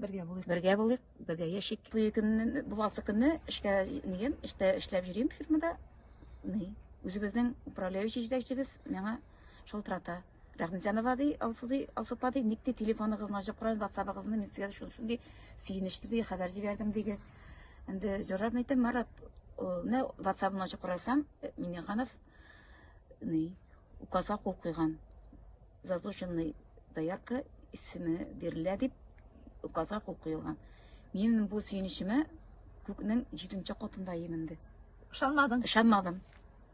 Бергә булыйк. Бергә булыйк, бергә яшик. Бу көнне, бу алты көнне эшкә нигем, эштә эшләп йөрим фирмада. Ни, үзебезнең управляющий җитәкчебез миңа шалтырата. Рәхмәтҗанова ди, Алсу ди, Алсу па ди, ник ди телефоныгызны ачып карагыз, WhatsApp-ыгызны мин сезгә шул шундый сөенечле ди хәбәр җибәрдем диде. Инде җорап әйтәм, Марат, менә WhatsApp-ны ачып карасам, Минеханов ни, указга кул куйган. заслуженный доярка исеме бирелә дип указга кул куелган. Минем бу сөенечемә күкнең җиденче катында именде. Ышанмадың? Ышанмадым.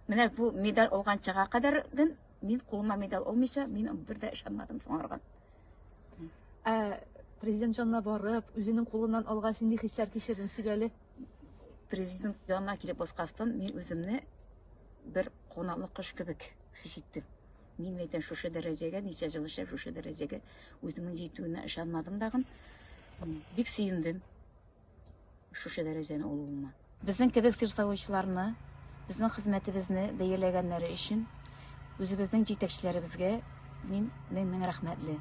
Менә бу медаль алганчага кадәр гын мин кулыма медаль алмыйча, мин бер дә ышанмадым соңарган. Ә президент җанына барып, үзенең кулыннан алгач, нинди хисләр кичердең сөйләле? Президент янына килеп баскастан, мин үземне бер кунаклы кош кебек хис иттем. Мин әйтәм, шушы дәрәҗәгә, ничә ел эшләп, шушы дәрәҗәгә үземнең җитүенә ышанмадым дагын. Бик сөендем шушы дәрәҗәне алуыма. Безнең кебек сырсавычларны, безнең хезмәтебезне бәяләгәннәре өчен үзебезнең җитәкчеләребезгә мин мең-мең рәхмәтле.